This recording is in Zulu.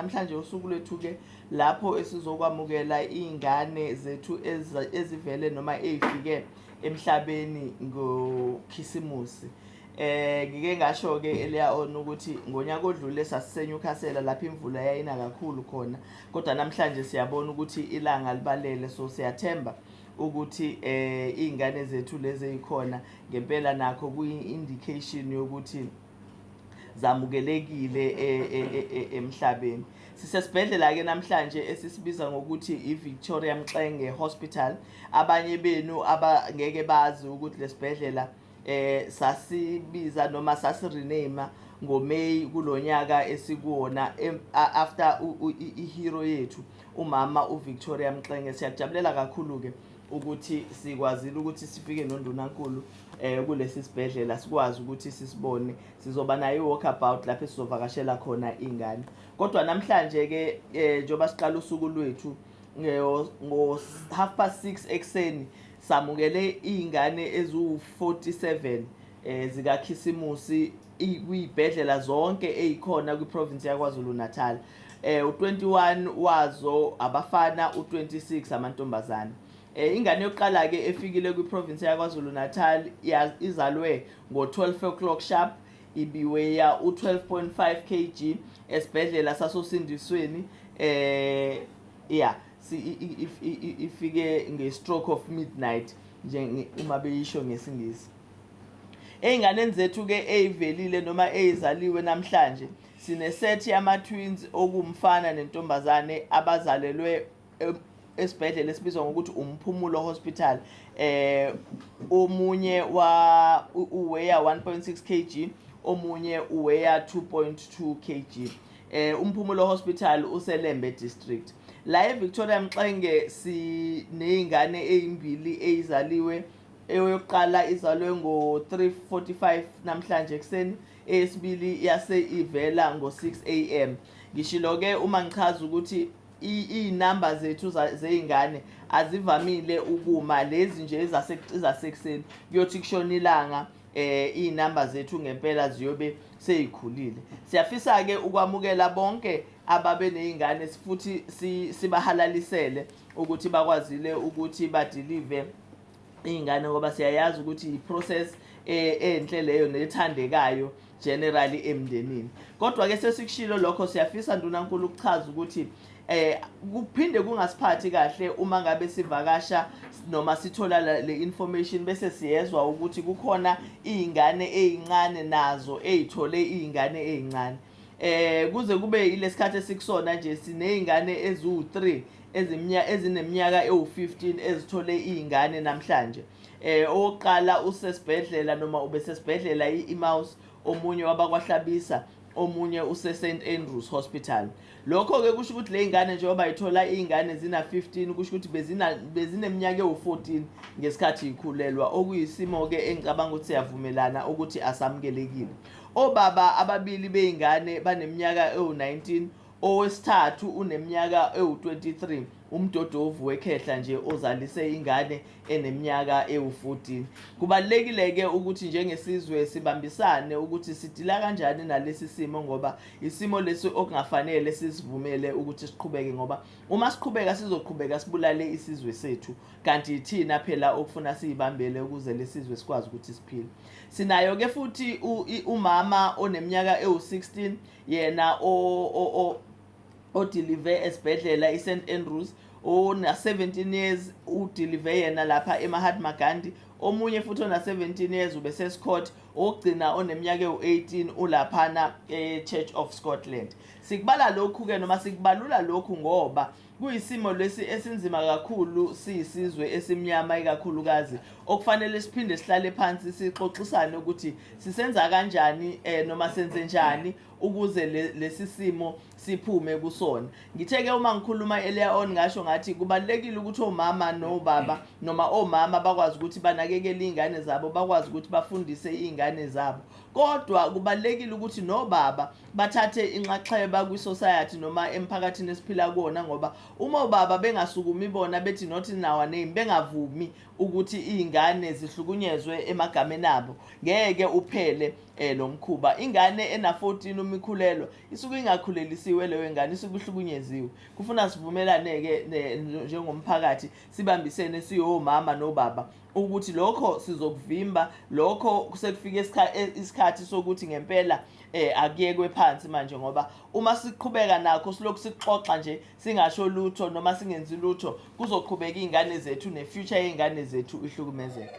Namhlanje usuku lwethu-ke lapho esizokwamukela iy'ngane zethu ezivele noma ey'fike emhlabeni ngokhisimusi eh ngike ngasho ke eleya on ukuthi ngonyaka odlule sasisenyukhasela lapha imvula yayina kakhulu khona kodwa namhlanje siyabona ukuthi ilanga libalele so siyathemba ukuthi eh izingane zethu lezi ezikhona ngempela nakho kuyi indication yokuthi zamukelekile e- e- e- e- emhlabeni sisesibhedlela-ke namhlanje esisibiza ngokuthi i-victoria mxenge hospital abanye benu abangeke bazi ukuthi lesibhedlela eh sasibiza noma sasirename ngoMay kulonyaka esikuwona em- a- after u- u- i- ihero yethu umama uVictoria Mxenge siyakujabulela kakhulu ke ukuthi sikwazile ukuthi sifike nondunankulu eh kulesi sibhedlela sikwazi ukuthi sisibone sizoba naye walk about lapho sizovakashela khona ingane kodwa namhlanje ke eh, njengoba siqala usuku lwethu ngo half past 6 ekseni samukele izingane eziwu 47 eh zikakhisimusi kwibhedlela zonke eyikhona kwiprovince yakwazulu-natal eh u21 wazo abafana u26 amantombazana eh ingane yokuqala ke efikile kwiprovince yaKwaZulu Natal izalwe ngo12 o'clock sharp ibiweya u12.5 kg esibhedlela sasosindisweni eh yeah ifike nge stroke of midnight nje uma beyisho ngesingisi Ey'nganeni zethu-ke ey'velile noma ey'zaliwe namhlanje sinesethi yama-twins okuwumfana nentombazane abazalelwe e-, esibhedlela esibizwa ngokuthi umphumulo hospital eh omunye wa uweya 1.6 kg omunye uweya 2.2 kg eh umphumulo hospital uselembe district la eVictoria Mxenge sinezingane ezimbili ezizaliwe eyokuqala izalwe ngo-3:45 namhlanje ekuseni eyesibili yase ivela ngo-6 am ngishilo-ke uma ngichaza ukuthi iy'namba zethu zey'ngane azivamile ukuma lezi nje ezasekuseni kuyothi kushona ilanga eh izinamba zethu ngempela ziyobe seyikhulile siyafisa ke ukwamukela bonke ababe nezingane futhi sibahalalisele ukuthi bakwazile ukuthi badeliver iy'ngane ngoba siyayazi ukuthi yi-process e-, enhle leyo nethandekayo generally emndenini kodwa-ke sesikushilo lokho siyafisa ndunankulu ukuchaza ukuthi eh kuphinde kungasiphathi kahle uma ngabe sivakasha noma sithola le information bese siyezwa ukuthi kukhona izingane ezincane nazo ezithole izingane ezincane eh kuze kube ilesikhathi esikusona nje sinezingane eziwu3 ezimnya ezineminyaka ewu15 ezithole izingane namhlanje eh oqala usesibhedlela noma ubesesibhedlela iMouse omunye wabakwahlabisa omunye use St Andrews Hospital lokho ke kusho ukuthi lezingane njengoba ithola izingane zina 15 kusho ukuthi bezina bezineminyaka ewu14 ngesikhathi ikhulelwa okuyisimo ke engicabanga ukuthi siyavumelana ukuthi asamukelekile Obaba ababili beyingane baneminyaka ewu-19 owesithathu uneminyaka ewu-23 umdodovu wekhehla nje ozalise ingane eneminyaka ewu-14 kubalulekile-ke ukuthi njengesizwe sibambisane ukuthi sidila kanjani nalesi simo ngoba isimo lesi okungafanele sizivumele ukuthi siqhubeke ngoba uma siqhubeka sizoqhubeka sibulale isizwe sethu kanti yithina phela okufuna siyibambele ukuze lesizwe sikwazi ukuthi siphile sinayo ke futhi umama oneminyaka ewu-16 yena odilive esibhedlela i-st andrews ona-17 years udilive yena lapha emahatma gandhi omunye futhi ona-17 years ubesescott okugcina oneminyaka ewu-18 ulaphana e-church of scotland sikubala lokhu-ke noma sikubalula lokhu ngoba Kuyisimo lesi esinzima kakhulu siyisizwe esimnyama ikakhulukazi okufanele siphinde sihlale phansi sixoxisane ukuthi sisenza kanjani eh, noma senze njani ukuze lesi simo siphume kusona ngithe ke uma ngikhuluma earlier on ngasho ngathi kubalekile ukuthi omama nobaba noma omama bakwazi ukuthi banakekele izingane zabo bakwazi ukuthi bafundise izingane zabo kodwa kubalekile ukuthi nobaba bathathe inxaxheba kwi-society noma emphakathini esiphila kuwona ngoba uma obaba bengasukumi bona bethi not in our name bengavumi ukuthi iy'ngane zihlukunyezwe emagameni abo ngeke uphele um lo mkhuba ingane ena-14 uma ikhulelwa isuke ingakhulelisiwe leyo ngane isuke ihlukunyeziwe kufuna sivumelane-ke njengomphakathi sibambisene siwomama nobaba ukuthi lokho sizokuvimba lokho sekufike e, isikhathi sokuthi ngempela eh akuyekwe phansi manje ngoba uma siqhubeka nakho silokhu sixoxa nje singasho lutho noma singenzi lutho kuzoqhubeka izingane zethu ne future yeingane zethu ihlukumezeka